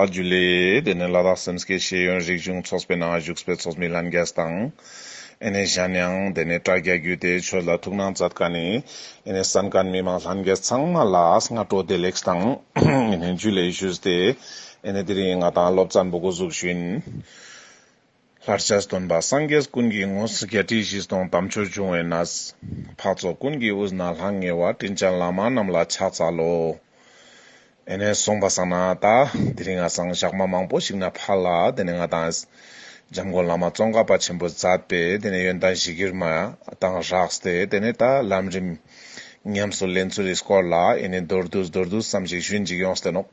རྒྱུ་ལས། དེ་ནི་ལ་དྭགས་སེམས་སྐྱེད་ཤེས་ཡོན་རིག་གཞུང་ཚོགས་པའི་ནང་བཞུགས་པའི་ཚོགས་མི་ལྷན་རྒྱས་དང། ཨེ་ནས་ཞན་ཡང་དེ་ནས་དྲ་རྒྱ་བརྒྱུད་དེ་ཆོས་ལ་ཐུགས་སྣང་མཛད་དཀའ་ནི། ཨེ་ནས་བསམ་དཀར་མི་དམངས་ལྷན་རྒྱས་ཚང་མ་ལ་སྔ་དྲོ་བདེ་ལེགས་དང། ཨེ་ནས་རྒྱུ་ལས་བཞུགས་ཏེ། ཨེ་ནས་དེ་རིང་ང་དང་སློབ་གཙང་བུ་གུ་གཟུགས་བཞིན། ལྷར་ཆགས་སྟོན་པ་སངས་རྒྱས་ཀུན་གྱི་ངོ། བརྒྱད་ཁྲི་བཞི་སྟོང་དམ་ཆོས་འབྱུང་བའི་ན། འཕགས་ཚོགས་ཀུན་གྱི་དབུས་ན་ལྷང་ངེ་བ། སྤྲིན་ཆེན་ལཱ་མ་རྣམས་ལ་ཕྱག་འཚལ་ལོ། ཨེ་ནས་གསུངས་པ་སང་ན་ད། དེ་རིང་ང་སང་ཞག་མ་མང་པོ་ཞིག་ན་ཕར་ལ་དེ་ནས་ང་དང། འཇམ་མགོན་བླ་མ་ཙོང་ཁ་པ་ཆེན་པོ་མཛད་པས་དེ་ནས་ཡོན་ཏན་བཞི་ཀིར་མ་དང་རགས་ཏེ་དེ་ནས་ད་ལམ་རིམ། ཉམས་སུ་ལེན་ཚུལ་རིས་སྐོར་ལ་ཨེ་ནས་མདོར་བསྡུས་མདོར་བསྡུས་ཙམ་ཞིག་ཞུས་འཇིགས་ཡོངས་སྟོན་ནོ།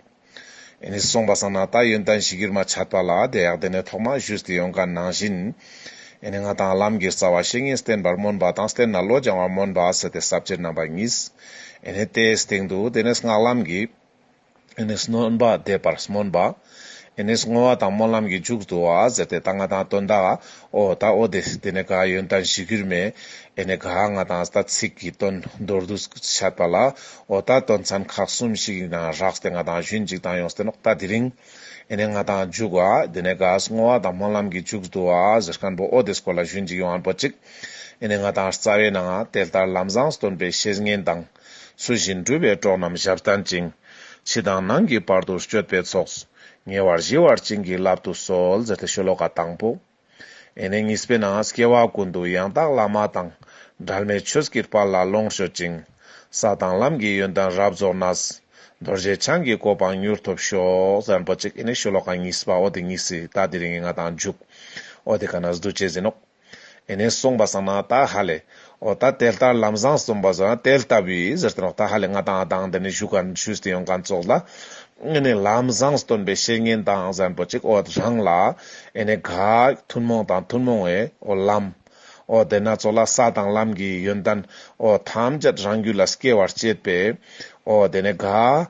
ཨེ་ནི་སོང་བ་སང་ན་ད་ཡོན་ཏན་ཞིག་གིར་མ་ཆགས་པ་ལ་དེ་ཡག་དེ་ནས་ཐོག་མ་བཞུད་དེ་ཡོང་དཀའ་ནང་བཞིན། ཨེ་ནི་ང་དང་བླ་མགིར་རྩ་བ་བཤེས་གཉེན་བསྟེན་པར་སྨོན་པ་དང་བསྟེན་ན་བློ་སྦྱང་བར་སྨོན་པ་ཟེར་ཏེ་ཟབ་ཆེར་རྣམ་པར་ངེས། ཨེ་ནི་དེའི་སྟེང་དུ་དེ་ནས་སྔགས་ལམ་གྱི། ཨེ་ནི་སྣོན་པ་འདེབས་པར་སྨོན་པ། ཨེ་ནི་བསྔོ་བ་དང་སྨོན་ལམ་གྱི་མཇུག་ཏུ་ཟེར་ཏེ་ད་ང་དང་དོན་དག་ཨོ་ད་ཨོ་དེ་དེ་ནས་ག་ཡོན་ཏན་བཞི་གུར་མས་ཨེ་ནས་ག་ང་དང་ད་ཚིག་གི་དོན་མདོར་བསྡུ་བྱས་པ་ལ་ཨོ་ད་དོན་ཚན་ཁག་གསུམ་ཞིག་ཡིན་ན་རགས་དེ་ང་དང་ཞུན་འཇིགས་དང་ཡོངས་སྟེ་ནོག་ད་དེ་རིང་ཨེ་ནས་ང་དང་འཇུག་བ་དེ་ནས་གཱས་བསྔོ་བ་དང་སྨོན་ལམ་གྱི་འཇུག་བསྡུ་བ་གཟིར་ཁན་པོ་ཨོ་དེ་སྐོར་ལ་ཞུན་འཇིགས་ཡོང་བ་པོ་ཅིག་ཨེ་ནས་ང་དང་རྩ་བའི་ནང་དེ་ལྟར་ལམ་བཟང་སྟོན་པའི་བཤེས་གཉེན་དང། སུ་བཞིན་སྦྲུལ་བའི་སྒྲོག་རྣམས་ཞབས་བསྟན་ཅིང། ཕྱི་དང་ནང་གི་བར་དུ་སྤྱོད་པའི་ཚོགས། ཉེ་བར་གཞིལ་བར་བྱིན་གྱིས་བརླབ་ཏུ་གསོལ། ཨེ་ནས་གཉིས་པས་ན་སྐྱེ་བ་ཀུན་ཏུ་ཡང་དག་བླ་མ་དང། གྲལ་མེད་ཆོས་ཀྱི་དཔལ་ལ་ལོངས་སྤྱོད་ཅིང། ས་དང་ལམ་གྱི་ཡོན་ཏན་རབ་རྫོགས་ན། རྡོ་རྗེ་འཆང་གི་གོ་འཕང་མྱུར་ཐོབ་ཤོག། ཨེ་ནས་ཤོ་ལོ་ཀ་གཉིས་པ་ཨོ་དི་གཉིས་སི་ཏཱ་དི་རི་ངི་ང་དང་འཇུག། ཨོ་དི་ཀ་ན་སི་ཏུ་ཅེ་ཟིན་ནོག། ཨེ་ནས་གསུངས་པ་བསམ་ན་ད་ཧ་ལས། ཨོ་ད་དེ་ལྟར་ལམ་བཟང་གསུངས་པ་བཟོ་ན་དེ་ལྟ་བུའི་ཟེར་ཏེ་ད་ཧ་ལས་ང་དང་ཨ་ཐང་འདི་ནས་བཞུགས་སྒར་ཆུས་སྟེང་ཡོང་ག་ཙོག་ལ། ཨེ་ནས་ལམ་བཟང་སྟོན་པའི་བཤེས་གཉེན་དང་གཟན་པོ་ཅིག་ཨོ་རང་ལ། ཨེ་ནས་ག། ཐུན་མོང་དང་ཐུན་མོང་བའི་ཨོ་ལམ། ཨོ་དེ་ན་ཙོག་ལ་ས་དང་ལམ་གྱི་ཡོན་ཏན། ཨོ་ཐམས་ཅད་རང་རྒྱུད་ལ་སྐྱེ་བར་བྱེད་པའི། ཨོ་དེ་ནས་ག།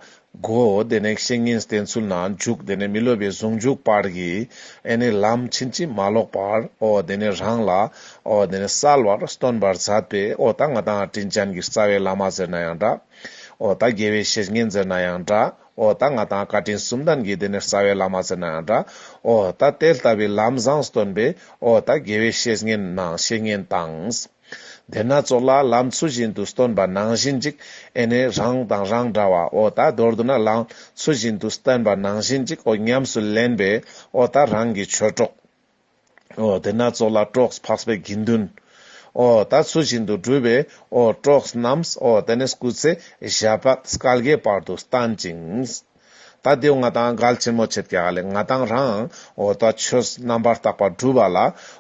གོ། དེ་ནས་བཤེས་གཉེན་བསྟེན་ཚུལ་ན་འཇུག་དེ་ནས་མི་ལུས་པའི་ཟུང་འཇུག་བར་གྱི། ཨེ་ནི་ལམ་ཕྱིན་ཅི་མ་ལོག་པར་ཨོ། དེ་ནས་རང་ལ་ཨོ། དེ་ནས་གསལ་བར་སྟོན་པར་མཛད་པས་ཨོ། ད་ང་དང་དྲིན་ཅན་གྱི་རྩ་བའི་བླ་མ་ཟེར་ན་ཡང་འདྲ་ཨོ། ད་རྒྱལ་བའི་བཤེས་གཉེན་ཟེར་ན་ཡང་འདྲ་ཨོ། ད་ང་དང་བཀའ་དྲིན་གསུམ་ལྡན་གྱི་དེ་ནས་རྩ་བའི་བླ་མ་ཟེར་ན་ཡང་འདྲ་ཨོ། ད་དེ་ལྟ་བུའི་ལམ་བཟང་སྟོན་པས་ཨོ། ད་རྒྱལ་བའི་བཤེས་གཉེན་ན་བཤེས་གཉེན་དང། དེས་ན་གཙོ་ལ་ལམ་ཚུལ་བཞིན་དུ་སྟོན་པ་ནང་བཞིན་ཅིག་ཨེ་ནས་རང་དང་རང་འདྲ་བ་ཨོ་ད་མདོར་བསྡུ་ན་ལམ་ཚུལ་བཞིན་དུ་སྟོན་པ་ནང་བཞིན་ཅིག་ཨོ་ཉམས་སུ་ལེན་པས་ཨོ་ད་རང་གི་ཆོས་གྲོགས་ཨོ་དེས་ན་གཙོ་ལ་གྲོགས་འཕགས་པའི་དགེ་འདུན་ཨོ་ད་ཚུལ་བཞིན་དུ་བསྒྲུབས་པས་ཨོ་གྲོགས་རྣམས་ཨོ་དེ་ནས་སྐུ་ཚེ་ཞབས་པད་སྐལ་དགའི་བར་དུ་བརྟན་ཅིང། ད་དེའུ་ང་དང་འགལ་ཆེན་མོ་བྱེད་ཀྱི་ལས་ང་དང་རང་འོ་ད་ཆོས་རྣམ་པར་དག་པ་བསྒྲུབ་པ་ལ་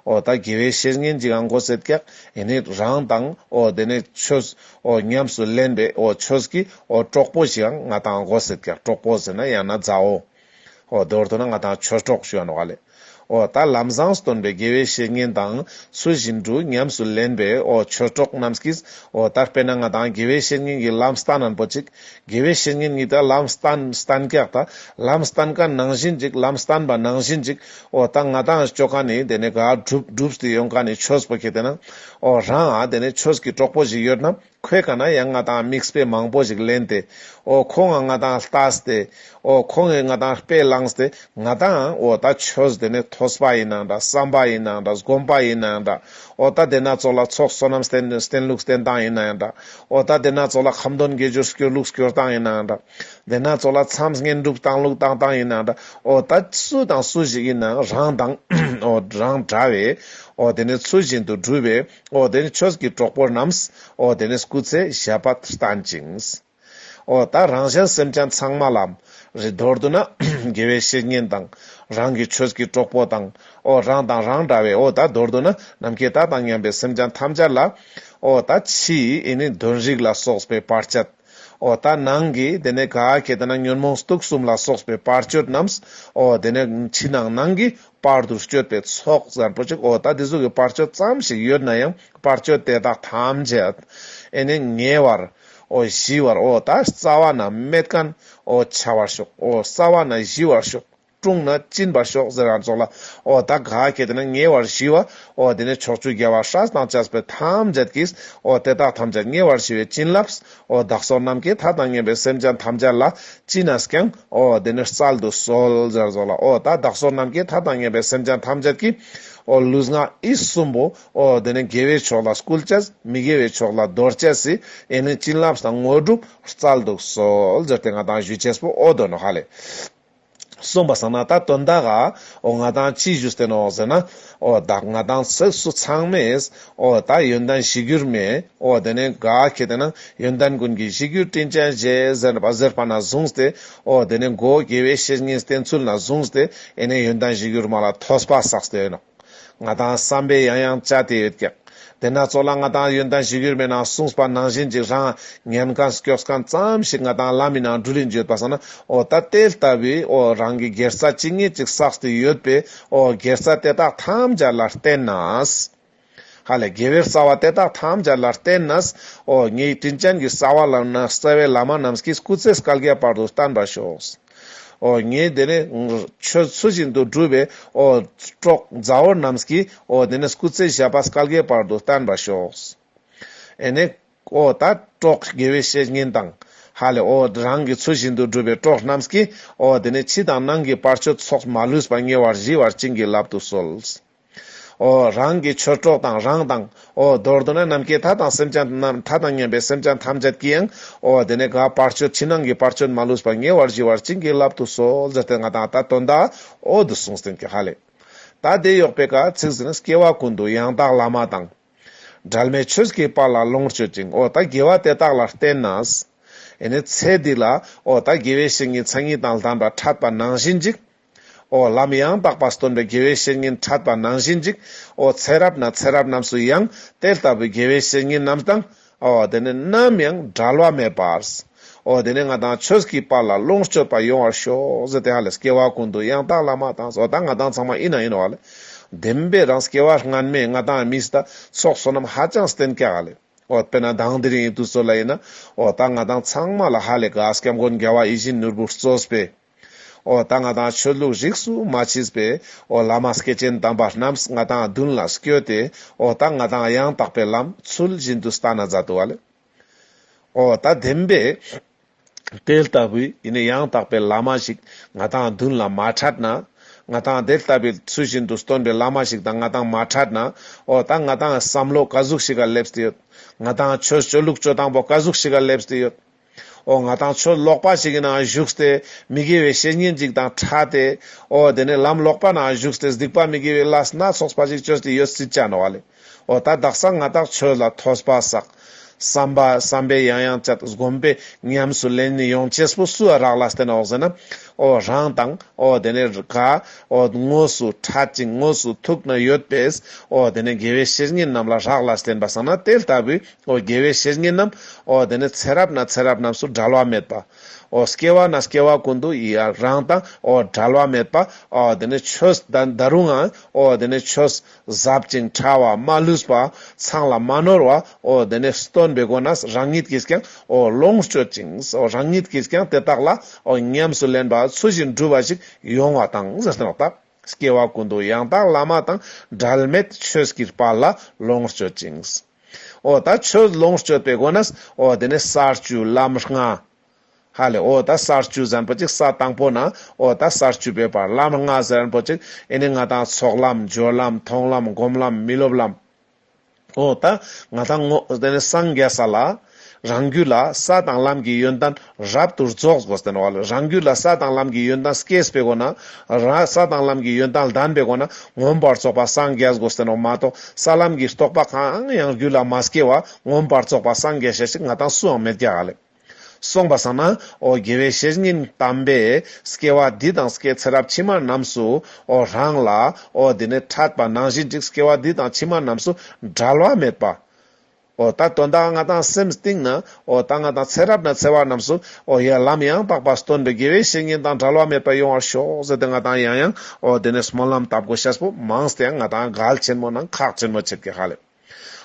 འོ་ད་དགེ་བའི་བཤེས་གཉེན་གྱིས་འགོ་བསད་ཀྱི་ཡིན་ནི་རང་དང་འོ་དེ་ནས་ཆོས་འོ་ཉམས་སུ་ལེན་པའི་འོ་ཆོས་ཀྱི་འོ་གྲོགས་པོ་ཞིག་ང་དང་འགོ་བསད་ཀྱི་གྲོགས་པོ་ཟེར་ན་ཡང་ན་མཛའ་འོ་འོ་དོར་ཐུག་ན་ང་དང་ཆོས་གྲོགས་ཞུ་བ་ནོ་ག་ལས། ཨོ་ད་ལམ་བཟང་སྟོན་པའི་དགེ་བའི་བཤེས་གཉེན་དང་ཚུལ་བཞིན་དུ་ཉམས་སུ་ལེན་པའི་ཨོ་ཆོས་གྲོགས་རྣམས་ཀྱིས་ཨོ་ད་དཔེར་ན་ང་དང་དགེ་བའི་བཤེས་གཉེན་གྱི་ལམ་སྟ་ནན་པོ་ཅིག་དགེ་བའི་བཤེས་གཉེན་ཉིད་དང་ལམ་སྟ་སྟན་རྒྱག་ད་ལམ་སྟན་ཀ་ནང་བཞིན་ཅིག་ལམ་སྟན་པ་ནང་བཞིན་ཅིག་ཨོ་ད་ང་དང་ཁྱོད་ཀ་ནི་དེ་ནས་ག་བསྒྲུབས་བསྒྲུབས་ཏེ་ཡོང་ག་ནི་ཆོས་པོ་ཁྱེད་དེ་ན་ཨོ་རང་ཨ་དེ་ནས་ཆོས་ཀྱི་གྲོགས་པོ་ཞིག་ཡོད་ན་ཁོས་གང་ན་ཡང་ང་དང་དམིགས་དཔེ་མང་པོ་ཞིག་ལེན་ཏེ། ཨོ་ཁོ་ང་ང་དང་ལྟ་སྟེ། ཨོ་ཁོ་ངས་ང་དང་དཔེ་བླངས་སྟེ། ང་དང་ཨོ་ད་ཆོས་དེ་ནི་ཐོས་པ་ཡིན་ནའང་འདྲ་བསམ་པ་ཡིན་ནའང་འདྲ་སྒོམ་པ་ཡིན་ནའང་འདྲ། ཨོ་ད་དེ་སྣ་ཚོགས་ལ་ཚོགས་བསོད་ནམས་སྟེན་སྟེན་ལུགས་སྟེན་སྟངས་ཡིན་ནའང་འདྲ། ཨོ་ད་དེ་སྣ་ཚོགས་ལ་ཁམས་དོན་དགེ་སྦྱོར་སྐྱོར་ལུགས་སྐྱོར་སྟངས་ཡིན་ནའང་འདྲ། དེ་སྣ་ཚོགས་ལ་མཚམས་བསྙེན་སྒྲུབ་སྟངས་ལུགས་བཏང་སྟངས་ཡིན་ནའང་འདྲ། ཨོ་ད་སུ་དང་སུ་ཞིག་ཡིན་ནའང་རང་དང། ཨོ་རང་འདྲ་བས། ཨོ་དེ་ནི་ཚུལ་བཞིན་དུ་སྒྲུབ་པའི། ཨོ་དེ་ནས་ཆོས་ཀྱི་གྲོགས་པོ་རྣམས། ཨོ་དེ་ནས་སྐུ་ཚེ་ཞབས་པད་བརྟན་ཅིང། ཨོ་ད་རང་གཞན་སེམས་ཅན་ཚང་མ་ལ། རི་དོར་དུ་ན་དགེ་བའི་བཤེས་གཉེན་དང། རང་གི་ཆོས་ཀྱི་གྲོགས་པོ་དང། ཨོ་རང་དང་རང་འདྲ་བའི་ཨོ་ད་དོར་དུ་ན་ནམ་མཁའི་ད་དང་མཉམ་པའི་སེམས་ཅན་ཐམས་ཅད་ལ། ཨོ་ད་ཕྱིའི་ནི་གདོན་རིགས་ལ་སོགས་པའི་བར་ཆད། ཨོ་ད་ནང་གི་དེ་ནས་ག་གེ་དེ་ན་ཉོན་མོངས་དུག་གསུམ་ལ་སོགས་པའི་བར་གཅོད་རྣམས། ཨོ་དེ་ནས་ཕྱི་ནང་ནང་གི་པར་དུ་བསྐྱོད་པའི་ཚོགས་གཟར་པོ་ཅིག་འོ་ད་དེ་གཟུགས་ཀྱི་བར་གཅོད་ཙམ་ཞིག་ཡོད་ན་ཡང་བར་གཅོད་དེ་དག་ཐམས་ཅད་ཨེ་ནས་ཉེ་བར་འོ་བཞི་བར་འོ་ད་རྩ་བ་ན་མེད་ཀན་འོ་བྱ་བར་ཤོག་འོ་རྩ་བ་ན་བཞི་བར་ཤོག་དཀྲུང་ན་བཅིན་པར་ཤོག་ཟེར་བ་རྫོགས་ལ་འོ་ད་ག་གེ་དེ་ན་ཉེ་བར་བཞི་བ་འོ་དེ་ནས་ཕྱོགས་བཅུའི་རྒྱལ་བ་ཧྲཱི་དང་ལྕགས་ཕུད་ཐམས་ཅད་ཀྱིས་འོ་དེ་དག་ཐམས་ཅད་ཉེ་བར་བཞི་བའི་བྱིན་རླབས་ཨོ་བདག་སོགས་ནམ་མཁའི་མཐའ་དང་མཉམ་པའི་སེམས་ཅན་ཐམས་ཅད་ལ་བཅིངས་ནས་ཀྱང། ཨོ་དེ་ནི་རྩལ་དུ་གསོལ། སྦྱར་རྫོགས་ལ་ཨོ་ད་བདག་སོགས་ནམ་མཁའི་མཐའ་དང་མཉམ་པའི་སེམས་ཅན་ཐམས་ཅད་ཀྱིས། ཨོ་ལུས་ངག་ཡིད་གསུམ་པོ། ཨོ་དེ་ནི་དགེ་བའི་ཕྱོགས་ལ་སྐུལ་བྱེད། མི་དགེ་བའི་ཕྱོགས་ལ་འདོར་བྱེད། ཨེ་ནི་བྱིན་རླབས་དང་དངོས་གྲུབ་རྩལ་དུ་གསོལ། སྦྱར་ཏེ་ང་དང་གཞུད་བྱེད་པོ་ཨོ་དོ་ནོ་ཧ་ལས། གསུངས་པ་བསམ་ན་ད་དོན་དག་ཨ། ཨོ་ང་དང་ཅི་བཞུ་བསྟན་ཨོ་ཟེར་ན། ཨོ་བདག་ང་དང་ཚིགས་སུ་ཚང་མེད། ཨོ་ད་ཡོན་ཏན་བཞི་འགྱུར་མེད། ཨོ་དེ་ནས་དགའ་ཁྱེད་དེ་ན་ཡོན་ཏན་ཀུན་གྱི་བཞི་འགྱུར་སྤྲིན་ཅན་བཞད་ཟེར་པ་ཟེར་པ་ན་བཟུང་སྟེ། ཨོ་དེ་ནས་མགོ་བོ་དགེ་བའི་བཤེས་གཉེན་བསྟེན་ཚུལ་ན་བཟུང་སྟེ་ཨེ་ནས་ཡོན་ཏན་བཞི་འགྱུར་མ་ལ་ཐོས་པ་བསགས་སྟོན་ཨོ། ང་དང་བསམ་པས་ཡང་ཡང་བཅར་ཏེ་ཡོད་ཀྱང། དེ་སྣ་ཚོགས་ལ་ང་དང་ཡོན་ཏན་ཞིག་ཡོད་མེད་ནང་གསུངས་པ་ནང་བཞིན་གྱི་རང་ངན་གང་སྐྱོགས་གང་ཙམ་ཞིག་ང་དང་བླ་མའི་ནང་འབྲུ་རིགས་འཇོད་པ་སོགས་ན་ཨོ་ད་ལྟའི་ལྟ་བུའི་ཨོ་རང་གི་སྒེར་རྩ་ཅི་ངེས་ཅིག་བསགས་ཏེ་ཡོད་པའི་ཨོ་སྒེར་རྩ་དེ་དག་ཐམས་ཅད་ལ་བརྟེན་ན། ཧ་ལས་དགེ་བའི་རྩ་བ་དེ་དག་ཐམས་ཅད་ལ་བརྟེན་ན། ཨོ་ངའི་དྲིན་ཅན་གྱི་རྩ་བ་ལ་ནི་གསལ་བའི་བླ་མ་རྣམས་ཀྱིས་སྐུ་ཚེ་སྐལ་བརྒྱའི་བར་དུ་བརྟན་པར་ཤོག། ངས་དེ་ནས་ཁྱོད་ཚུལ་བཞིན་དུ་བསྒྲུབས་པས་པྲོག་མཛའ་བོ་རྣམས་ཀྱིས་དེ་ནས་སྐུ་ཚེ་ཞབས་པད་སྐལ་དགའི་བར་དུ་བརྟན་པར་ཤོག། ཨེ་ནས། ད་པྲོག་དགེ་བའི་བཤེས་གཉེན་དང། ཧ་ལས། རང་གི་ཚུལ་བཞིན་དུ་བསྒྲུབས་པས་པྲོག་རྣམས་ཀྱིས་དེ་ནས་ཕྱི་དང་ནང་གི་བར་ཆོས་ཚོགས་མ་ལུས་པ་ཉེ་བར་ཞི་བར་བྱིན་གྱིས་བརླབ་ཏུ་གསོལ། ཨོ། རང་གི་ཆོས་གྲོགས་དང་རང་དང། ཨོ། མདོར་བསྡུ་ན་ནམ་མཁའི་མཐའ་དང་སེམས་ཅན་རྣམས་མཐའ་དང་མཉམ་པའི་སེམས་ཅན་ཐམས་ཅད་ཀྱི་ཡང། ཨོ། དེ་ནས་དགའ་བར་སྤྱོད་ཕྱི་ནང་གི་བར་སྤྱོད་མ་ལུས་པ་ཉེ་བར་ཞི་བར་བྱིན་གྱིས་བརླབ་ཏུ་གསོལ་ཟེར་ཏེ་ང་དང་ད་དོན་དག་ཨོ། འདི་གསུངས་ཟིན་གྱི་ཧ་ལས། ད་ལྟའི་གཡོག་པའི་བཀའ་ཚིག་ཟིན་ནས་སྐྱེ་བ་ཀུན་ཏུ་ཡང་དག་བླ་མ་དང། གྲལ་མེད་ཆོས་ཀྱི་བར་ལ་ལོངས་སྤྱོད་ཅིང་ཨོ། ད་དགེ་བ་དེ་དག་ལ་བརྟེན་ན། ཨེ་ནས་ཚེ་འདི་ལ། ཨོ། ད་དགེ་བའི་བཤེས་གཉེན་མཚན་ཉིད་དང་ལྡན་པ་ཕྲད་པ་ནང་བཞིན་འཇིགས། ཨོ་ལམ་ཡང་དག་པར་སྟོན་པའི་དགེ་བའི་བཤེས་གཉེན་ཕྲད་པ་ནང་བཞིན་ཅིག། ཨོ་ཚེ་རབས་ན་ཚེ་རབས་རྣམས་སུ་ཡང་དེ་ལྟ་བུའི་དགེ་བའི་བཤེས་གཉེན་རྣམས་དང། ཨོ་དེ་ནས་ནམ་ཡང་བྲལ་བ་མེད་པར། ཨོ་དེ་ནས་ང་དང་ཁྱོད་ཀྱི་བར་ལ་ལོངས་སྤྱོད་པ་ཡོང་བར་ཤོག་ཟེར་ཏེ་ཧ་ལས་སྐྱེ་བ་ཀུན་ཏུ་ཡང་དག་བླ་མ་དང་བཟོ་དང་ང་དང་ཚང་མ་ཡིན་ན་ཡིན་བ་ལས། བདེན་པའི་རང་སྐྱེ་བ་སྔར་མེད་ང་དང་མི་ཟད་ཚོགས་བསོད་ནམས་ཧ་ཅང་བསྟེན་སྐྱ་ག་ལས། ཨོ་དཔེར་ན་གདངས་འདི་རིང་ཡིན་དུས་ཚོད་ལ་ཡིན་ན། ཨོ་ད་ང་དང་ཚང་མ་ལ་ཧ་ལས་དགའ་སྐྱབས་མགོན་རྒྱལ་བ་ཡིད་བཞིན་ནོར་བུ་སྩོལ་བས། ཨོ་ད་ང་དང་ཆོས་ལུགས་རིགས་སུ་མ་མཆིས་པས་ཨོ་བླ་མ་སྐྱེས་ཆེན་དམ་པ་རྣམས་ང་དང་མདུན་ལ་བསྐྱོད་དེ་ཨོ་ད་ང་དང་ཡང་དག་པའི་ལམ་ཚུལ་བཞིན་དུ་ལྟ་ན་མཛའ་དུ་བ་ལས། ཨོ་ད་བདེན་པས། དེ་ལྟ་བུའི་ཡེ་ནས་ཡང་དག་པའི་བླ་མ་ཞིག་ང་དང་མདུན་ལ་མ་འཕྲད་ན། ང་དང་དེ་ལྟ་བུའི་ཚུལ་བཞིན་དུ་སྟོན་པའི་བླ་མ་ཞིག་དང་ང་དང་མ་འཕྲད་ན་ཨོ་ད་ང་དང་བསམ་བློ་བཀའ་ཟུགས་ཤིག་ག་སླེབས་ཏེ་ཡོད། ང་དང་ཆོས་སྤྱོད་ལུགས་སྤྱོད་དང་པོ་བཀའ་ཟུགས་ཤིག་ག་སླེབས་ཏེ་ཡོད། ཨོ་ང་དང་ཁྱོད་ལོག་པ་ཞིག་གི་ནང་བཞུགས་ཏེ་མི་དགེ་བའི་བཤེས་གཉེན་ཅིག་དང་ཕྲ་སྟེ། ཨོ་དེ་ནས་ལམ་ལོག་པ་ནང་བཞུགས་ཏེ་གཟིགས་པ་མི་དགེ་བའི་བླ་སྣ་ཚོགས་པ་ཞིག་བཅོལ་ཏེ་ཡོད་སྲིད་ཅེ་ན་བ་ལས། ཨོ་ད་བདག་སང་ང་དག་ཆོས་ལ་ཐོས་པ་བསགས། བསམ་པ་བསམ་པས་ཡང་ཡང་བཅད་བསྒོམས་པས་ཉམས་སུ་ལེན་ནས་ཡོངས་སྐྱེས་པོ་སུ་རག་ལ་སྟེ་ན་འོག་ཟེར་ན། ཨོ་རང་དང་ཨོ་དེ་ནས་ར་ག་ཨོ་དངོས་སུ་ཕྲ་ཅིང་དངོས་སུ་ཐུག་ན་ཡོད་པས། ཨོ་དེ་ནས་དགེ་བའི་བཤེས་གཉེན་རྣམས་ལ་རག་ལ་སྟེ་ན་བ་བསགས་ན་དེ་ལྟ་བུའི་ཨོ་རྒྱལ་བའི་བཤེས་གཉེན་རྣམས། ཨོ་དེ་ནས་ཚེ་རབས་ན་ཚེ་རབས་རྣམས་སུ་བྲལ་བ་མེད་པ། ཨོ་སྐྱེ་བ་ན་སྐྱེ་བ་ཀུན་ཏུ་ཡི་རང་དང། ཨོ་བྲལ་བ་མེད་པ། ཨོ་དེ་ནས་ཆོས་བདག་རུང་ངང། ཨོ་དེ་ནས་ཆོས་ཟབ་ཅིང་ཕྲ་བ་མ་ལུས་པ། ཚངས་ལ་མ་ནོར་བ། ཨོ་དེ་ནས་སྟོན་པའི་སྒོ་ན་རང་ཉིད་ཀྱིས་ཀྱང། ཨོ་ལོངས་སྤྱོད་ཅིང། ཨོ་རང་ཉིད་ཀྱིས་ཀྱང་དེ་དག་ལ། ཨོ་ཉམས་སུ་ལེན་པ་ཚུལ་བཞིན་སྒྲུབ་པ་ཞིག་ཡོང་བ་དང། སྐྱེ་བ་ཀུན་ཏུ་ཡང་དག་བླ་མ་དང། བྲལ་མེད་ཆོས་ཀྱི་དཔལ་ལ་ལོངས་སྤྱོད་ཅིང། འོ་ད་ཁྱོད་ལོངས་སྤྱོད་པའི་སྒོ་ནས་འོ་དེ་ནས་གསར་བཅུའི་ལམ་སྔ་ཧ་ལས་འོ་ད་གསར་བཅུ་ཟེར་པོ་ཅིག་ས་དང་པོ་ན་འོ་ད་གསར་བཅུ་པའི་བར་ལམ་སྔ་ཟེར་པོ་ཅིག་ཨེ་ནས་ང་དང་ཚོགས་ལམ་སྦྱོར་ལམ་མཐོང་ལམ་སྒོམ་ལམ་མི་སློབ་ལམ་འོ་ད་ང་དང་ངོ་དེ་ནས་སངས་རྒྱས་ས་ལ། རང་རྒྱུད་ལ་ས་དང་ལམ་གྱི་ཡོན་ཏན་རབ་ཏུ་རྫོགས། རང་རྒྱུད་ལ་ས་དང་ལམ་གྱི་ཡོན་ཏན་སྐྱེས་པའི་སྒོ་ན། ས་དང་ལམ་གྱི་ཡོན་ཏན་ལྡན་པའི་སྒོ་ན་མངོན་པར་རྫོགས་པ་སངས་རྒྱས་སྒོ། མ་རྟོགས་ས་ལམ་གྱི་རྟོག་པ་གང་ཡང་རྒྱུད་ལ་མ་སྐྱེས་བ་མངོན་པར་རྫོགས་པ་སངས་རྒྱས་ཞལ་གཅིག་ང་དང་སུའང་མེད་ཀྱྀ། གསུངས་པ་བསམས་ན། ཨོ་རྒྱལ་བའི་བཤེས་གཉེན་དམ་པས། སྐྱེ་བ་འདི་དང་སྐྱེ་ཚེ་རབས་ཕྱི་མ་རྣམས་སུ། རང་ལ། ཨོ་དེ་ནས་ཕྲད་པ་ནང་བཞིན་ཅིག་སྐྱེ་བ་འདི་དང་ཕྱི་མ་རྣམས་སུ་འབྲལ་བ་མེད་པ། ཨོ་ད་དོན་དག་ང་དང་སེམས་གཏིང་ན། ཨོ་ད་ང་དང་ཚེ་རབས་ན་འཚེ་བ་རྣམས་སུ། ཨོ་ཡ་ལམ་ཡང་དག་པར་སྟོན་པའི་དགེ་བའི་བཤེས་གཉེན་དང་བྲལ་བ་མེད་པར་ཡོང་བར་ཤོག་ཟེར་ཏེ་ང་དང་ཡང་ཡང། ཨོ་དེ་ནས་སྨོན་ལམ་དབབ་དགོས་ཤ་སྤུ་མང་སྟེ་ཡང་ང་དང་གལ་ཆེན་མོ་ནང་ཁག་ཆེན་མོ་ཆེར་གྱི་ཧ་ལས།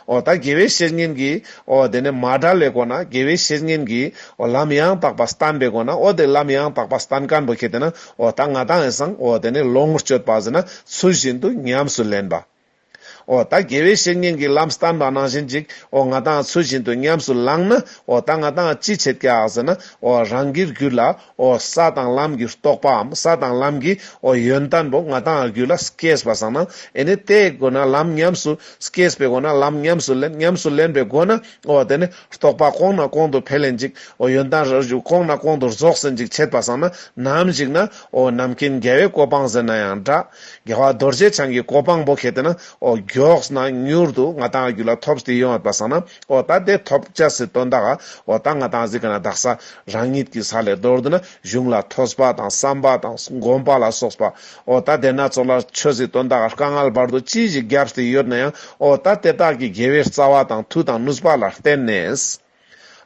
ཨོ་ད་དགེ་བའི་བཤེས་གཉེན་གྱིས། ཨོ་དེ་ནས་མ་དགྲ་ལས་གོ་ན་དགེ་བའི་བཤེས་གཉེན་གྱིས། ཨོ་ལམ་ཡང་དག་པར་སྟན་པའི་གོ་ན་ཨོ་དེ་ལམ་ཡང་དག་པར་སྟན་སྐམ་པོ་ཁྱེད་དེ་ན་ཨོ་ད་ང་དང་ཨེ་སང་ཨོ་དེ་ནས་ལོངས་སྤྱོད་པ་ཟིན་ན་ཚུལ་བཞིན་དུ་ཉམས་སུ་ལེན་པ། འོ་ད་དགེ་བའི་བཤེས་གཉེན་གྱིས་ལམ་སྟན་པ་ནང་བཞིན་ཅིག་འོ་ང་དང་ཚུལ་བཞིན་དུ་ཉམས་སུ་བླངས་ན་འོ་ད་ང་དང་ཅི་བྱེད་ཀྱི་ཟེར་ན་འོ་རང་གིར་གྱུར་ལ་འོ་ས་དང་ལམ་གྱི་རྟོགས་པའམ་ས་དང་ལམ་གྱི་འོ་ཡོན་ཏན་པོ་ང་དང་རྒྱུད་ལ་སྐྱེས་པ་བཟང་ན་འོ་ནི་དེའི་སྒོ་ན་ལམ་ཉམས་སུ་སྐྱེས་པའི་སྒོ་ན་ལམ་ཉམས་སུ་ལེན་ཉམས་སུ་ལེན་པའི་སྒོ་ན་འོ་དེ་ནི། རྟོག་པ་གོང་ན་གོང་དུ་འཕེལ་ལེན་ཅིག། ཨོ་ཡོན་ཏན་རོ་གཅིག་གོང་ན་གོང་དུ་རྫོགས་ཟིན་ཅིག་ཆད་པ་བསགས་ན་ནམ་ཞིག་ན། ཨོ་ནམ་མཁའི་འགལ་བའི་གོ་འཕང་ཟེར་ན་ཡང་འདྲ། རྒྱལ་བ་རྡོ་རྗེ་འཆང་གི་གོ་འཕང་བོ་གལ་ཏེ་ན། ཨོ་མགྱོགས་ན་མྱུར་དུ་ང་དང་རྒྱུད་ལ་ཐོབ་བསྟི་ཡོང་བ་བསགས་ན། ཨོ་ད་དེ་ཐོབ་བྱ་སྲིད་དོན་དག། ཨོ་ད་ང་དང་གཟིགས་ན་དག་ས། རང་ཉིད་ཀྱི་ས་ལས་རྡོར་དུ་ན་གཞུང་ལ་ཐོས་པ་དང་བསམ་པ་དང་བསྒོམ་པ་ལ་སོགས་པ། ཨོ་ད་དེ་སྣ་ཚོགས་ལ་ཆོས་ཟིག་སྟོན་དག་དཀའ་ངལ་བར་དུ་ཅི་ཞིག་བརྒྱབ་སྟེ་ཡོད་ན་ཡང་ཨོ་ད་དེ་དག་གིས་དགེ་བའི་རྩ་བ་དང་མཐུ་དང་ནུས་པ་ལ་བརྟེན་ནས།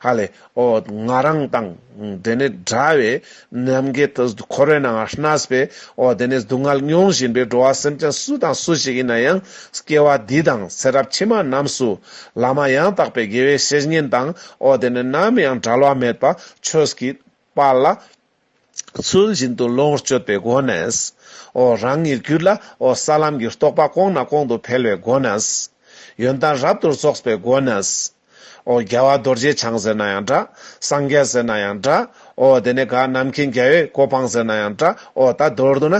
ཧ་ལས། ཨོ་ང་རང་དང། དེ་ནི་འདྲ་བའི། ནམ་མཁའི་འཁོར་བའི་ནང་ང་ཧྲནས་པས། ཨོ་དེ་ནི་སྡུག་བསྔལ་མྱོང་བཞིན་པའི་འགྲོ་བ་སེམས་ཅན་སུ་དང་སུ་ཞིག་ཡིན་ན་ཡང། སྐྱེ་བ་འདི་དང་ཚེ་རབས་ཕྱི་མ་རྣམས་སུ། བླ་མ་ཡང་དག་པའི་དགེ་བའི་བཤེས་གཉེན་དང། ཨོ་དེ་ནི་ནམ་ཡང་བྲལ་བ་མེད་པ་ཆོས་ཀྱི་དཔལ་ལ། ཚུལ་བཞིན་དུ་བློ་ངོར་དཔྱོད་པའི་སྒོ་ནས། འོ་རང་ཉིད་གུད་ལ་འོ་ས་ལམ་གྱི་རྟོགས་པ་སྐོང་ན་སྐོང་དུ་འཕེལ་བའི་སྒོ་ནས། ཡོན་ཏན་རབ་ཏུ་རྫོགས་པའི་སྒོ་ནས། འོ་རྒྱལ་བ་རྡོ་རྗེ་འཆང་ཟེར་ན་ཡང་འདྲ། སངས་རྒྱས་ཟེར་ན་ཡང་འདྲ། འོ་དེ་ནས་གང་རྣམ་མཁྱེན་རྒྱལ་བའི་གོ་འཕང་ཟེར་ན་ཡང་འདྲ། འོ་ད་མདོར་བསྡུ་ན།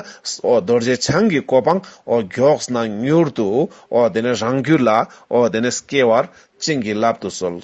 འོ་རྡོ་རྗེ་འཆང་གི་གོ་འཕང་འོ་མགྱོགས་ན་མྱུར་དུ། འོ་དེ་ནས་རང་གུད་ལ་འོ་དེ་ནས་སྐྱེ་བར་བྱིན་གྱིས་བརླབ་ཏུ་གསོལ།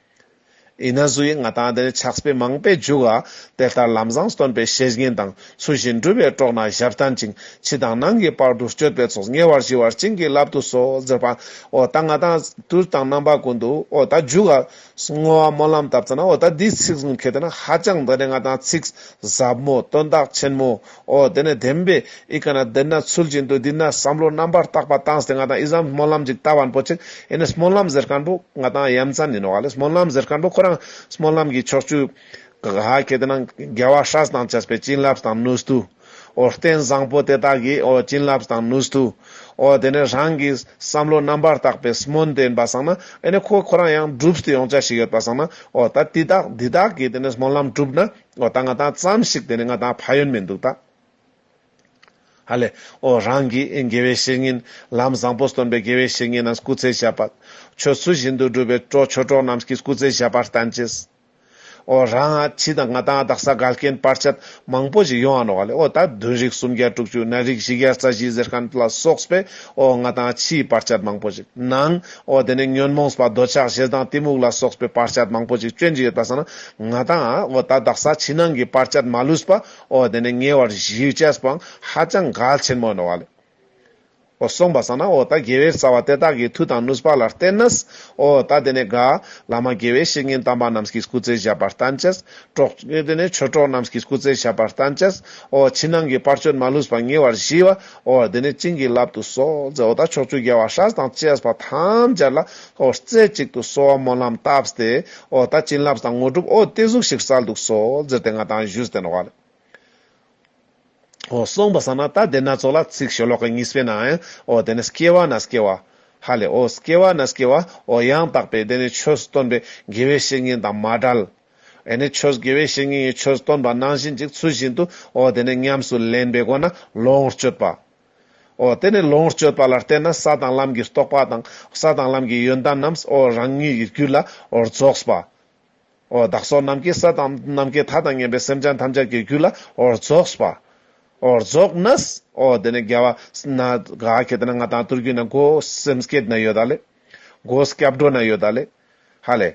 ཡིན་ན་སུ་ཡིས་ང་དང་འདིར་ཆགས་པའི་མང་པའི་འཇུག་ཨ། དེ་ལྟར་ལམ་བཟང་སྟོན་པའི་བཤེས་གཉེན་དང་ཚུལ་བཞིན་སྒྲུབ་པའི་གྲོགས་རྣམས་ཞབས་བརྟན་ཅིང་ཕྱི་དང་ནང་གི་བར་དུ་གཅོད་པའི་ཚོགས་ཉེ་བར་ཞི་བར་བྱིན་གྱིས་བརླབ་ཏུ་གསོལ་ཟེར་པ། ཨོ་ད་ང་དང་དུས་དང་རྣམ་པ་ཀུན་ཏུ་ཨོ་ད་འཇུག་ཨ། བསྔོ་བ་སྨོན་ལམ་དབབ་ཚེ་ན་ཨོ་ད་འདིའི་ཚིག་གསུམ་གལ་ཏེ་ན་ཧ་ཅང་འདི་ནི་ང་དང་ཚིག་ཟབ་མོ་སྟོན་བདག་ཆེན་མོ། ཨོ་དེ་ནས་དེ་མིན་པའི་ཨི་ཀ་ན་དེ་ན་ཚུལ་བཞིན་དུ་འདི་ན་བསམ་བློ་རྣམ་པར་བརྟག་པ་བཏང་སྟེ་ང་དང་ཨི་བཟའ་མི་སྨོན་ལམ་གཅིག་ལྟ་བར་འཕོ་ཆེད་ཨི་ནི་སྨོན་ལམ་ཟེར་མཁན་པོ་ང་དང་ཡ་མཚན་ཡིན་ནོ་ག་ལས་སྨོན་ལམ་ཟེར་མཁན་པོ་ཁོ་རང་སྨོན་ལམ་གྱི་ཕྱོགས་བཅུའི་ག་ག་གེ་དེ་ན་རྒྱལ་བ་ཧྲཱི་དང་བཅས་པའི་བྱིན་རླབས་དང་ནུས་མཐུ། ཨོ་རྟེན་བཟང་པོ་དེ་དག་གི་ཨོ་བྱིན་རླབས་དང་ནུས་མཐུ། ཨོ་དེ་ནས་རང་གི་བསམ་བློ་རྣམ་པར་བརྟག་པའི་སྨོན་དེ་ཡིན་པ་བསམ་ན་ཨི་ནི་ཁོ་ཁོ་རང་ཡང་བསྒྲུབས་ཏེ་ཡོང་བྱ་ཞིག་ཡོད་པ་བསམ་ན་ཨོ་ད་དེ་དག་འདི་དག་གིས་དེ་ནས་སྨོན་ལམ་གྲུབ་ན་ཨོ་ད་ང་དང་བརྩམས་ཤིག་དེ་ནས་ང་དང་ཕ་ཡོན་མེད་འདུག་ད། ཧ་ལས། ཨོ་རང་གིས་དགེ་བའི་བཤེས་གཉེན། ལམ་བཟང་པོ་སྟོན་པའི་དགེ་བའི་བཤེས་གཉེན་རྣམས་སྐུ་ཚེ་བཞག་པ། ཁྱོད་ཚུལ་བཞིན་དུ་སྒྲུབ་པའི་གྲོགས་ཆོས་གྲོགས་རྣམས་ཀྱིས་སྐུ་ཚེ་བཞག་པར་བསྟན་ཅིག། ཨོ་རང་ཨ་ཕྱི་དང་ང་དང་བདག་ས་ག་རྐྱེན་སྤར་ཆ་མང་པོ་ཞིག་ཡོང་ཨ་ནོ་ཨ་ལས་ཨོ་ད་བདུན་རིགས་སུམ་བརྒྱ་དྲུག་ཅུ་ན་རིགས་བཞི་བརྒྱ་རྩ་བཞི་ཟེར་མཁན་ལ་སོགས་པས་ཨོ་ང་དང་ཨ་ཕྱིའི་སྤར་ཆ་མང་པོ་ཞིག་གནང། འོ་དེ་ནས་ཉོན་མོངས་པ་འདོད་ཆགས་ཞེ་སྡང་གཏི་མུག་ལ་སོགས་པའི་བར་ཆད་མང་པོ་ཅིག་སྐྱོན་གྱིས་ཡོད་པར་བསམས་ན་ང་དང། འོ་ད་བདག་ས་ཕྱི་ནང་གི་བར་ཆད་མ་ལུས་པ། འོ་དེ་ནས་ཉེ་བར་གཞིའི་བཅས་སུ་པའང་ཧ་ཅང་གལ་ཆེན་མོ་ཡིན་ནོ། འོ་སོང་པར་བསམས་ན་འོ་ད་དགེ་བའི་རྩ་བ་དེ་དག་གི་མཐུ་དང་ནུས་པ་ལ་བརྟེན་ན། འོ་ད་དེ་ནས་དགའ། བླ་མ་དགེ་བའི་བཤེས་གཉེན་དམ་པ་རྣམས་ཀྱིས་སྐུ་ཚེ་བཞག་པར་བསྟན་ཅི། གྲོགས། དེ་ནས་ཆོས་གྲོགས་རྣམས་ཀྱིས་སྐུ་ཚེ་བཞག་པར་བསྟན་ཅི། འོ་ཕྱི་ནང་གི་བར་ཆོད་མ་ལུས་པ་ཉེ་བར་གཞིའི་བ། ཨོ་དེ་ནས་བྱིན་གྱིས་བརླབ་ཏུ་གསོལ་མཛད་འོ་ད་ཕྱོགས་བཅུའི་རྒྱལ་བ་ཧྲཱི་དང་བཅས་པ་ཐམས་ཅད་ལ་ཨོ་རྩེ་གཅིག་ཏུ་གསོལ་བ་སྨོན་ལམ་བཏབ་སྟེ་ཨོ་ད་བྱིན་རླབས་དང་དངོས་གྲུབ་ཨོ་དེ་གཟུགས་ཞིག་གསལ་འདུག་གསོལ་མཛད་དེ་སྔ་དང་བཞུགས་སྟེ་འགྲོ་བ། ཨོ་གསུངས་པ་ས་ན་ད་དེ་སྣ་ཚོགས་ལ་ཚིག་ཞེ་ལོག་གི་གཉིས་སྤེལ་ནའང་ཨོ་དེ་ནས་སྐྱེ་བ་ན་སྐྱེ་བ། ཧ་ལས་ཨོ་སྐྱེ་བ་ན་སྐྱེ་བ་ཨོ་ཡང་དག་པའི་དེ་ནས་ཆོས་སུ་སྟོན་པའི་དགེ་བའི་བཤེས་གཉེན་དང་མ་བྲལ། དེ་ནས་ཆོས་དགེ་བའི་བཤེས་གཉེན་གྱིས་ཆོས་སྟོན་པ་ནང་བཞིན་གྱི་ཚུལ་བཞིན་དུ་འོ་དེ་ནས་ཉམས་སུ་ལེན་པའི་སྒོ་ན་ལོངས་སྤྱོད་པའོ། དེ་ནས་ལོངས་སྤྱོད་པ་ལ་བརྟེན་ན་ས་དང་ལམ་གྱི་རྟོག་པ་དང་ས་དང་ལམ་གྱི་ཡོན་ཏན་རྣམས་འོ་རང་ཉིད་ཀྱི་རྒྱུད་ལ་འོ་རྫོགས་པའོ། བདག་སོགས་ནམ་མཁའི་ས་དང་ནམ་མཁའི་མཐའ་དང་མཉམ་པའི་སེམས་ཅན་ཐམས་ཅད་ཀྱི་རྒྱུད་ལ་འོ་རྫོགས་པའོ། རྫོགས་ན་འོ་དེ་ནས་རྒྱལ་བ་ན་ག་གེ་དེ་ན་ང་དང་ཏུར་གུ་ན་སྒོ་སེམས་སྐད་ན་ཡོད་ད་ལེ། སྒོ་སྐྱབས་འགྲོ་ན་ཡོད་ད་ལེ། ཧ་ལས།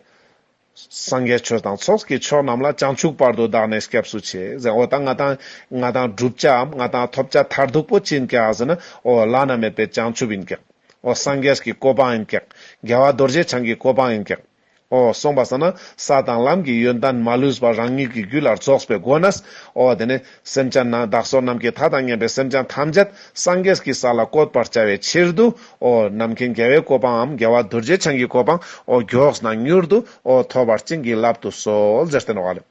སངས་རྒྱས་ཆོས་དང་ཚོགས་ཀྱི་མཆོག་རྣམས་ལ་བྱང་ཆུབ་བར་དུ་བདག་ནི་སྐྱབས་སུ་མཆི། འོ་ད་ང་དང། ང་དང་བསྒྲུབ་བྱའམ་ང་དང་ཐོབ་བྱ་མཐར་ཐུག་པོ་ཅི་ཡིན་ཀྱེ་ཨཱ་ཟེར་ན། འོ་བླ་ན་མེད་པའི་བྱང་ཆུབ་ཡིན་ཀྱེ། འོ་སངས་རྒྱས་ཀྱི་གོ་འཕང་ཡིན་ཀྱེ། རྒྱལ་བ་རྡོ་རྗེ་འཆང་གི་གོ་འཕང་ཡིན་ཀྱེ། འོ་གསུངས་པ་ཟེར་ན། ས་དང་ལམ་གྱི་ཡོན་ཏན་མ་ལུས་པར་རང་ཉིད་ཀྱི་རྒྱུད་ལ་རྫོགས་པའི་སྒོ་ནས། འོ་དེ་ནས། སེམས་ཅན་ནང་བདག་སོགས་རྣམས་ཀྱི་མཐའ་དང་གཉེན་པའི་སེམས་ཅན་ཐམས་ཅད་སངས་རྒྱས་ཀྱི་ས་ལ་བཀོད་པར་བྱ་བའི་ཕྱིར་དུའོ། ནམ་མཁའི་རྒྱལ་བའི་གོ་འཕང་འམ་རྒྱལ་བ་རྡོ་རྗེ་འཆང་གི་གོ་འཕང་ཨོ། མགྱོགས་ན་མྱུར་དུའོ་ཐོབ་པར་བྱིན་གྱིས་བརླབ་ཏུ་གསོལ་ཟེར་བསྟན་བར་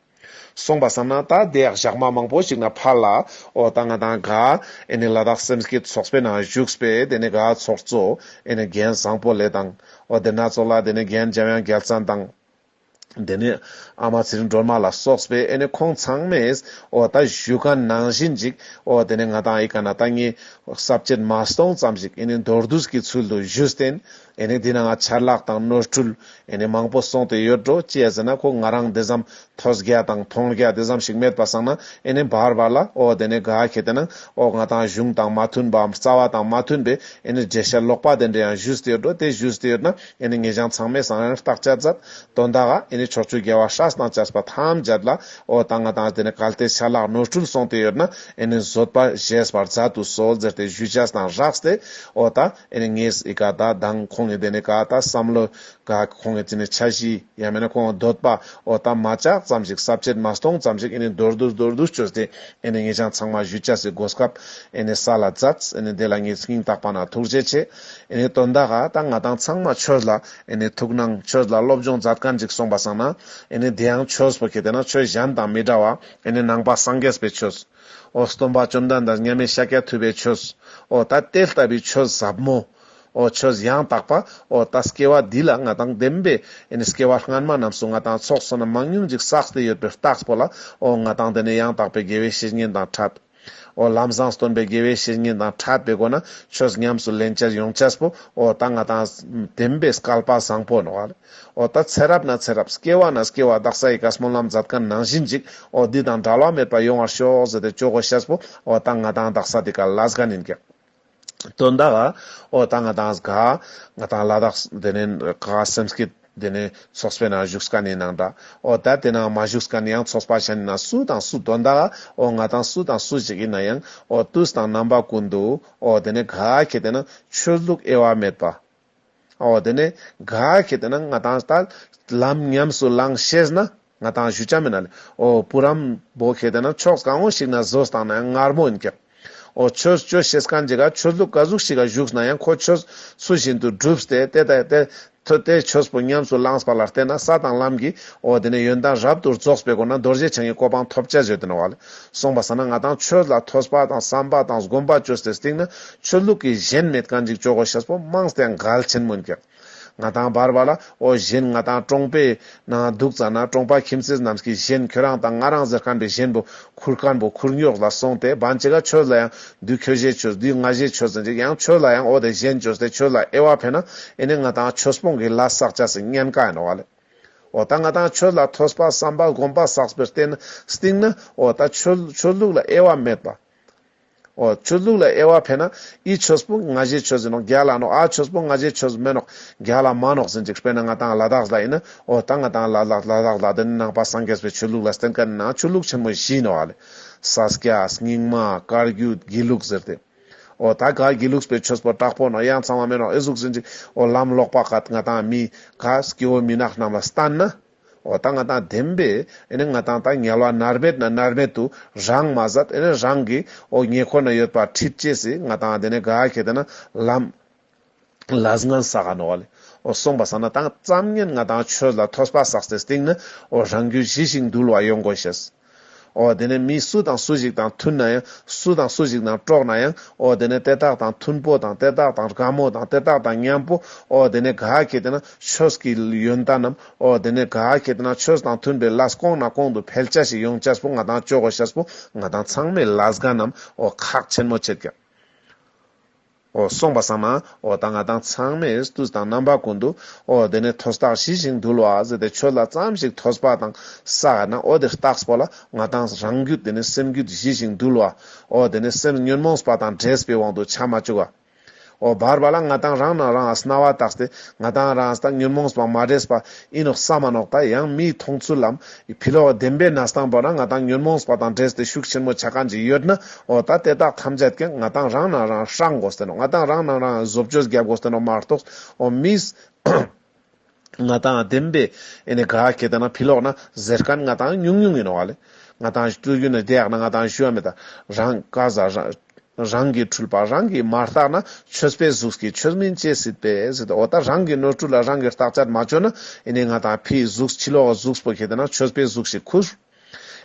གསུངས་པར་བསམས་ན་ད་ལྟའི་ཞག་མ་མང་པོ་ཞིག་ན་ཕར་ལ་ཨོ་ད་ང་དང་གྷ་ཨེ་ནི་ལ་དྭགས་སེམས་ཀྱི་ཚོགས་པའི་ནང་བཞུགས་པས་དེ་ནས་གྷ་ཚོགས་གཙོ་ཨེ་ནི་རྒྱན་བཟང་པོ་ལས་དང། ཨོ་དེ་སྣ་ཚོགས་ལ་དེ་ནས་རྒྱན་འཇམ་དབྱངས་རྒྱལ་མཚན་དང། དེ་ནས་ཨ་མ་ཚེ་རིང་སྒྲོལ་མ་ལ་སོགས་པས་ཨེ་ནི་ཁོང་ཚང་མས། འོ་ད་བཞུགས་སྒར་ནང་བཞིན་ཅིག། འོ་དེ་ནས་ང་དང་ཨ་ཡེ་ཀ་ན་ད་ངའི། གསར་བཅད་མ་སྟོང་ཙམ་ཞིག་ཨེ་ནི་མདོར་བསྡུས་ཀྱི་ཚུལ་དུ་བཞུགས། བརྟེན་ཨེ་ནི་འདི་ན་ང་ཆར་ལག་དང་ནོར་འཁྲུལ། ཨེ་ནི་མང་པོ་སོང་སྟེ་ཡོད་འགྲོ་སྤྱད་ཟེར་ན་ཁོ་ང་རང་འདི་ཙམ། ཐོས་རྒྱ་དང་མཐོང་རྒྱ་འདི་ཙམ་ཞིག་མེད་པ་སང་ན་ཨེ་ནི་འབར་བ་ལ་འོ་དེ་ནས་དགའ་ཁྱེད་དེ་ན། འོ་ང་དང་གཞུང་དང་མ་མཐུན་པའམ་རྩ་བ་དང་མ་མཐུན་པའི་ཨེ་ནི་འགྲེལ་བཤད་ལོག་པ་དེ་འདྲ་ཡང་བཞུགས་ཏེ་ཡོད་འགྲོ་དེ་བཞུགས་ཏེ་ཡོད་ན། ཨེ་ནི་ངེས་བྱང་ཚང་མའི་གསང་ཡང་རྟག་སྤྱད་ཛ྄། དོན་དག་ཨེ་ནི་ཕྱོགས་བཅུའི་རྒྱལ་བ་ཧྲཱི་དང་སྤྱད་པ་ཐམས་ཅད་ལ། ཨོ་དང་ཨ་དང་ཨ་དེ་ནི་གལ་ཏེ་ཆ་ལག་ནོར་འཁྲུལ་སོང་སྟེ་ཡོད་ན་ཨེ་ནི་བཟོད་པ་བཞེས་པར་ཛ྄་དུ་གསོལ་ཛེར་ཏེ་བཞུད་བྱས་དང་རགས་སྟེ། ཨོ་ད་ཨེ་ནི་ངེས་ཨི་ག་ད་དང་ཁོང་ངེ་དེ་ནི་ག་ད་བསམ་བློ། ག་ཁོང་ངེ་ཙི་ནི་ཆ་བཞི་ཡང་མེད་ན་ཁོང་འདོད་པ། ཨོ་ད་མ་ཅག་ཙམ་ཞིག་ཟབ་ཆད་མ་སྟོང་ཙམ་ཞིག་ཨེ་ནི་མདོར་བསྡུ་མདོར་བསྡུ་སྤྱོད་སྟེ་ཨེ་ནི་ངེས་བྱང་ཚང་མ་བཞུད་བྱས་སི་སྒོ་སྐབས། ཨེ་ནི་ས་ལ་ཛ྄། ཨེ་ནི་དེ་ལ་ངེས་སྙིང་བརྟག་པ་ན་ཐུགས་རྗེ་ཆེ། དོན་དག་ད་ང་དང་ཚང་མ་ཆོས་ལ་ཐུགས་སྣང་ཆོས་ལ་སློབ་སྦྱོང་མཛད་དཀའ་འཇིགས་སོང་པ་བསམ་ན། དེ་ཡང་ཆོས་བོད་ཀྱི་དེ་ན་ཆོས་གཞན་དང་མི་འདྲ་བ། ནང་པ་སངས་རྒྱས་པའི་ཆོས། ཨོ་སྟོན་པ་བཅོམ་ལྡན་འདས་མཉམ་མེད་ཤཱཀྱ་ཐུབ་པའི་ཆོས། ཨོ་ད་དེ་ལྟ་བུའི་ཆོས་ཟབ་མོ། ཨོ་ཆོས་ཡང་དག་པ། ཨོ་ད་སྐྱེ་བ་འདི་ལ་ང་དང་ལྡན་པའི། སྐྱེ་བ་སྔ་མ་རྣམས་སུ་ང་དང་ཚོགས་བསོད་ནམས་མང་ཉུང་ཅིག་བསགས་ཏེ་ཡོད་པའི་རྟགས་པོ་ལ། ཨོ་ང་དང་དེ་ནས་ཡང་དག་པའི་དགེ་བའི་བཤེས་གཉེན་དང་ཕྲད། ཨོ། ལམ་བཟང་སྟོན་པའི་དགེ་བའི་བཤེས་གཉེན་དང་འཕྲད་པའི་སྒོ་ན་ཆོས་ཉམས་སུ་ལེན་བྱར་ཡོངས་ཆགས་པོ་ཨོ། ད་ང་དང། བདེན་པའི་སྐལ་པ་བཟང་པོ་ནོ། ཨོ། ད་ཚེ་རབས་ན་ཚེ་རབས། སྐྱེ་བ་ན་སྐྱེ་བ་བདག་ས་ཡི་ག་སྨོན་ལམ་མཛད་དཀའ་ནང་བཞིན་ཅིག་ཨོ། འདི་དང་འདྲ་བ་མེད་པར་ཡོང་བར་ཤོག་ཟེར་ཏེ་ཅོག་གོ་ཤེས་པོ་ཨོ། ད་ང་དང་བདག་ས་དེ་ག་ལ་སྒ་ནིན་ཀྱང། དོན་དག། ཨོ་ད་ང་དང་གཟིགས་ཁ། ང་དང་བླ་དྭགས་དེ་ནས་ག་ག་སེམས་སྐྱིད་དེ་ནས་ཚོགས་པའི་ནང་བཞུགས་ཀ་ནས་ནང་འདྲ། ཨོ་ད་དེ་ནང་མ་བཞུགས་ཀ་ནས་ཡང་ཚོགས་པ་ཞ་ནས་ན་སུ་དང་སུ་དོན་དག། ཨོ་ང་དང་སུ་དང་སུ་ཞིག་ཡིན་ན་ཡང་ཨོ་ཏུས་དང་རྣམ་པ་ཀུན་འདུག་ཨོ་དེ་ནས་ག་ག་གི་དེ་ན་ཆོས་ལུགས་དབྱེ་བ་མེད་པ། འོ་དེ་ནས་ག་གེ་དེ་ན་ང་དང་ད་ལམ་ཉམས་སུ་བླང་ཤེས་ན་ང་དང་ཞུ་ཆ་མེད་ན་ལེ་འོ་བུ་རམ་བོ་གེ་དེ་ན་ཕྱོགས་གང་བོ་ཞིག་ན་བཟོས་བཏང་ན་ཡང་ངར་མོ་ཡིན་ཀྱང། འོ་ཆོས་སྤྱོད་ཤེས་གང་ཅི་ག་ཆོས་ལུགས་ག་གཟུགས་ཤིག་ག་བཞུགས་ན་ཡང་ཁོ་ཆོས་ཚུལ་བཞིན་དུ་བསྒྲུབས་ཏེ་དེ་ལྟ་དེ་ཐོས་ཏེ་ཆོས་པོ་ཉམས་སུ་བླངས་པ་ལ་བརྟེན་ན་ས་དང་ལམ་གྱི་འོ་དེ་ནས་ཡོན་ཏན་རབ་ཏུ་རྫོགས་པའི་སྒོ་ན་རྡོ་རྗེ་འཆང་གི་གོ་འཕང་ཐོབ་བྱ་བརྗོད་དེ་ན་བ་ལས་གསུངས་པ་ས་ན་ང་དང་ཆོས་ལ་ཐོས་པ་དང་བསམ་པ་དང་སྒོམ་པ་བཅོས་ཏེ་བསྟིང་ན་ཆོས་ལུགས་ཀྱི་གཞན་མེད་བཀའ་འཇིགས་ཅོག་གོ་ཤ་སྤོ་དམངས་སྟེ་མགལ་ཆེན་མོ་འགྱག། ང་ཐང་འབར་བ་ལ་ཨོ་གཞན་ང་ཐང་ཀྲོང་པའི་ནང་འདུག་ཙ་ན་ཀྲོང་པ་ཁྱིམ་སྲས་རྣམས་ཀྱིས་གཞན་ཁྱོད་རང་དང་ང་རང་ཟེར་ཁམས་པའི་གཞན་བུ་ཁུར་དཀར་འབུ་ཁུར་ཉོག་ལ་སོང་སྟེ་བན་ཅི་ག་ཁྱོད་ལ་ཡང་དུས་ཁྱོད་གཞས་ཆོས་དུས་ང་གཞས་ཆོས་ཟེར་འཇིག་ཡང་ཁྱོད་ལ་ཡང་ཨོ་དེ་གཞན་ཆོས་དེ་ཆོས་ལ་ཨེ་བ་ཕན་ན་ཨེ་ནས་ང་ཐང་ཆོས་སྤོང་གི་ལ་བསགས་བྱ་སི་ཉན་ཀ་ཡིན་ནོ་བ་ལས། ཨོ་ད་ང་ཐང་ཆོས་ལ་ཐོས་པ་བསམ་པ་སྒོམ་པ་བསགས་པའི་སྟེང་ན་སྟེང་ན་ཨོ་ད་ཆོས་ལུགས་ལ་ཨེ་བ་མེད་པ། ཨོ་ཆོས་ལུགས་ལ་དབྱེ་བ་ཕལ་ན་ཨི་ཆོས་སྤུན་ང་བཞེད་ཆོས་ཟིན་ནོག་རྒྱ་ལ་ནོག་ཨ་ཆོས་སྤུན་ང་བཞེད་ཆོས་མེད་ནོག་རྒྱ་ལ་མ་ནོག་ཟིན་ཅིག་དཔེར་ན་ང་དང་ལ་དྭགས་ལ་ཡིན་ན་ཨོ་ད་ང་དང་ལ་ལ་ལ་དྭགས་ལ་འདི་ནི་ནང་པ་སངས་རྒྱས་པའི་ཆོས་ལུགས་ལ་བསྟན་ག་ནི་ནང་ཆོས་ལུགས་ཆེན་མོ་བཞི་ནོ་ཨ་ལས་ས་སྐྱ་སྙིང་མ་དཀར་རྒྱུད་དགེ་ལུགས་ཟེར་ཏེ་ཨོ་ད་ག་དགེ་ལུགས་པའི་ཆོས་པོ་དྲག་པོ་ནོག་ཡང་ཚང་བ་མེད་ནོག་ཨེ་གཟུགས་ཟིན་ཅིག་ཨོ་ལམ་ལོག་པ་ག་ང་དང་མི་ག་སྐྱེ་བོ་མི་ནག་རྣམས་ལ་བསྟན་ན། འོ་ད་ང་དང་ལྡན་པས་ང་དང་དང་ཉལ་བ་ནར་མེད་ན་ནར་མེད་དུ་རང་མ་ཟད་རང་གི་ཨོ་ཉེ་ཁོ་ན་ཡོད་པ་ཁྲིད་ཅེས་སི་ང་དང་ལྡན་ནས་དགའ་ཁེ་ད་ན་ལམ་ལ་སྔན་ས་ག་ནོ་བ་ལས་ཨོ་སོང་པ་ས་ན་དང་བརྩམ་ཉན་ང་དང་ཆོས་ལ་ཐོས་པ་ཟག་སའི་སྟེང་ན་ཨོ་རང་རྒྱུད་ཞི་ཞིང་འདུལ་བ་ཡོང་དགོས་ཤེས། ཨོ་དེ་ནས་མི་སུ་དང་སུ་ཞིག་དང་མཐུན་ན་ཡང་སུ་དང་སུ་ཞིག་དང་དཀྲོགས་ན་ཡང་ཨོ་དེ་ནས་དེ་དག་དང་མཐུན་པོ་དང་དེ་དག་དང་དགའ་མོ་དང་དེ་དག་དང་མཉམ་པོ་ཨོ་དེ་ནས་ག་གེ་དེ་ན་ཆོས་ཀྱི་ཡོན་བདག་རྣམས་ཨོ་དེ་ནས་ག་གེ་དེ་ན་ཆོས་དང་མཐུན་པའི་ལཱས་སྐོང་ན་གོང་དུ་ཕལ་ཆ་ཞིག་ཡོངས་ཆར་པོ་ང་དང་ཅོག་གོ་ཤར་པོ་ང་དང་ཚང་མས་ལཱས་དགའ་རྣམས་ཨོ་ཁག་ཆེན་མོ་བྱེད་ཀྱང། འོ་སོང་པ་སང་མ་འོ་ད་ང་དང་ཚང་མས་སྟུས་དང་རྣམ་པ་ཀུན་ཏུ་འོ་དེ་ནས་ཐོས་བརྟགས་ཞི་ཞིང་དུལ་བ་ཟེར་ཏེ་ཆོས་ལ་བརྩམས་ཤིག་ཐོས་པ་དང་ས་ཨ་ན་འོ་དེ་བརྟགས་པོ་ལ་ང་དང་རང་རྒྱུད་དེ་ནས་སེམས་རྒྱུད་ཞི་ཞིང་དུལ་བ་འོ་དེ་ནས་སེམས་ཉོན་མོངས་པ་དང་བྲལ་པའི་དབང་དུ་བྱ་མ་བཅུག་ག་འོ་བར་བ་ལ་ང་དང་རང་ན་རང་ཨ་སྣ་བ་བརྟགས་ཏེ་ང་དང་རང་ཨ་ད་ཉོན་མོངས་པ་མ་བྲལ་པ་ཨི་ནོག་ས་མ་ནོག་དང་ཡང་མིའི་མཐོང་ཚུལ་ལམ་ཨི་ཕི་ལོ་བ་བདེན་པའི་ན་སྟངས་བོ་ན་ང་དང་ཉོན་མོངས་པ་དང་འདྲེས་ཏེ་ཤུགས་ཆེན་མོ་བྱ་ག་འཇི་ཡོད་ན་འོ་ད་དེ་དག་ཐམས་ཅད་ཀྱང་ང་དང་རང་ནང་རང་ཧྲག་འགོ་སྟེ་ནོ་ང་དང་རང་ནང་རང་བཟོ་བཅོས་རྒྱབ་འགོ་སྟེ་ནོ་མ་རྟོགས་འོ་མིས། ང་དང་བདེན་པའི་ཨི་ནི་ག་གེ་དེ་ན་ཕི་ལོག་ན་ཟེར་ག་ནི་ང་དང་ཉུང་ཉུང་ཡི་ནོ་བ་ལེ། ང་དང་བཏུ་གུ་ནི་དེ་ཡག་ན་ང་དང་ཞུ་བ་མེ་ད་རང་ག་ཟ་རང། རང་གི་འཁྲུལ་པ་རང་གིས་མ་བརྟགས་ན་ཆོས་པའི་གཟུགས་ཀྱིས་ཆོས་མིན་ཅེས་སྲིད་པས་སྲིད་འོ་ད་རང་གི་ནོར་འཁྲུལ་ལ་རང་གིས་བརྟག་དཔྱད་མ་བྱོས་ན་ཨེ་ནས་ང་དང་ཕའི་གཟུགས་ཕྱི་ལོག་གི་གཟུགས་སྤོ་ཁེ་ད་ན་ཆོས་པའི་གཟུགས་ཞིག་ཁུར།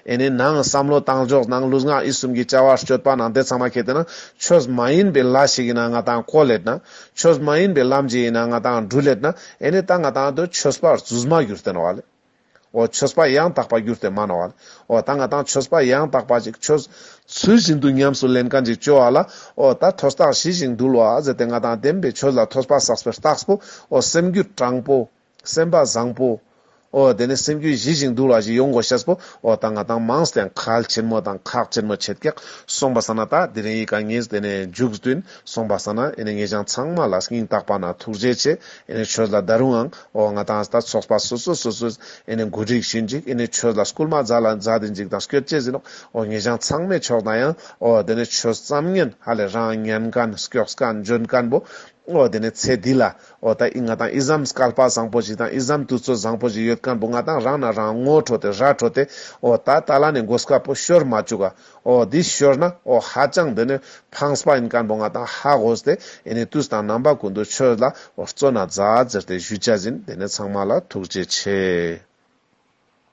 ཨེ་ནས་ནང་བསམ་བློ་བཏང་འཇོག་ནང་ལུས་ངག་ཡིད་གསུམ་གྱི་བཅའ་བ་སྤྱོད་པ་ནང་དེ་ཚང་མ་ཁེ་ད་ན་ཆོས་མ་ཡིན་པའི་ལ་ཞིག་ཡིན་ན་ང་དང་གོ་ལེད་ན། ཆོས་མ་ཡིན་པའི་ལམ་ཞིག་ཡིན་ན་ང་དང་འགྲུལ་ལེད་ན་ཨེ་ནས་ད་ང་དང་དུ་ཆོས་པར་རྫུས་མ་གྱུར་ཏེ་ནོར་བ་ལས། འོ་ཆོས་པ་ཡང་དག་པར་གྱུར་ཏེ་མ་ན་བ། འོ་ད་ང་དང་ཆོས་པ་ཡང་དག་པ་ཅིག་ཆོས། ཚུལ་བཞིན་དུ་ཉམས་སུ་ལེན་གང་ཅིག་སྤྱོད་བ་ལ། འོ་ད་ཐོས་བརྟགས་ཞི་ཞིང་འདུལ་བ་ཟད་དེ་ང་དང་ལྡན་པའི་ཆོས་ལ་ཐོས་པ་བསགས་པའི་རྟགས་སོ། འོ་སེམས་རྒྱུད་དྲང་པོ། སེམས་པ་བཟང་པོ། འོ་དེ་ནས་སེམས་རྒྱུད་ཞི་ཞིང་འདུལ་བ་ཞིག་ཡོང་གོ་ཤེས་པོ། འོ་ད་ང་དང་མངས་ཀྱང་གལ་ཆེན་མོ་དང་ཁག་ཆེན་མོ་ཆད་ཀྱང། སོང་བ་ས་ན་ད་དེ་རིང་ཡིད་གང་ངེས་དེ་ནས་འཇུག་བསྟུན། སོང་བ་ས་ན་ཨེ་ནས་ངེས་ཀྱང་ཚང་མ་ལ་སྙིང་བརྟགས་པ་ན་ཐུགས་རྗེ་ཆེ། ཨེ་ནས་ཆོས་ལ་ད་རུང་ཨང། ཨོ་ང་དང་ད་ཚོགས་པ་སོ་སོ་སོ་སོས་ཨེ་ནས་འགོ་འགྲིགས་ཤིག་འཇིག་ཨེ་ནས་ཆོས་ལ་སྐུལ་མ་རྫ་ལ་རྫ་དེ་འཇིག་དང་སྐྱོད་བྱེད་ཟིན་ནོ་ཨོ་ངེད་ཅང་ཚང་མས་ཆོག་དང་ཡང་ཨོ་དེ་ནས་ཆོས་བརྩམ་ངན་ཧ་ལས་རང་ཉན་གན་སྐྱོགས་གན་འཇོན་གན་པོ་ཨོ་དེ་ནས་ཚེ་འདི་ལ་ཨོ་ད་ཨི་ང་དང་ཨི་བཟའམ་སྐལ་པ་བཟང་པོ་ཞིག་དང་ཨི་བཟའམ་དུས་ཚོད་བཟང་པོ་ཞིག་ཡོད་གན་པོ་ང་དང་རང་ན་རང་ངོ་འཕྲོ་དེ་ར་འཕྲོ་དེ་ཨོ་ད་ད་ལ་ནས་འགོ་སྐལ་པོ་ཤོར་མ་བཅུག་ག་ཨོ་འདི་ཤོར་ན་ཨོ་ཧ་ཅང་འདི་ནི་ཕངས་པ་ཡིན་སྐམ་པོ་ང་དང་ཧ་གོ་སྟེ་ཨེ་ནི་དུས་དང་རྣམ་པ་ཀུན་ཏུ་ཁྱོད་ལ་ཨོ་སྩོལ་ན་བཛྲ་ཟེར་ཏེ་གཞུས་བྱ་བཞིན་དེ་ནས་ཚང་མ་ལ་ཐུགས་རྗེ་ཆེ།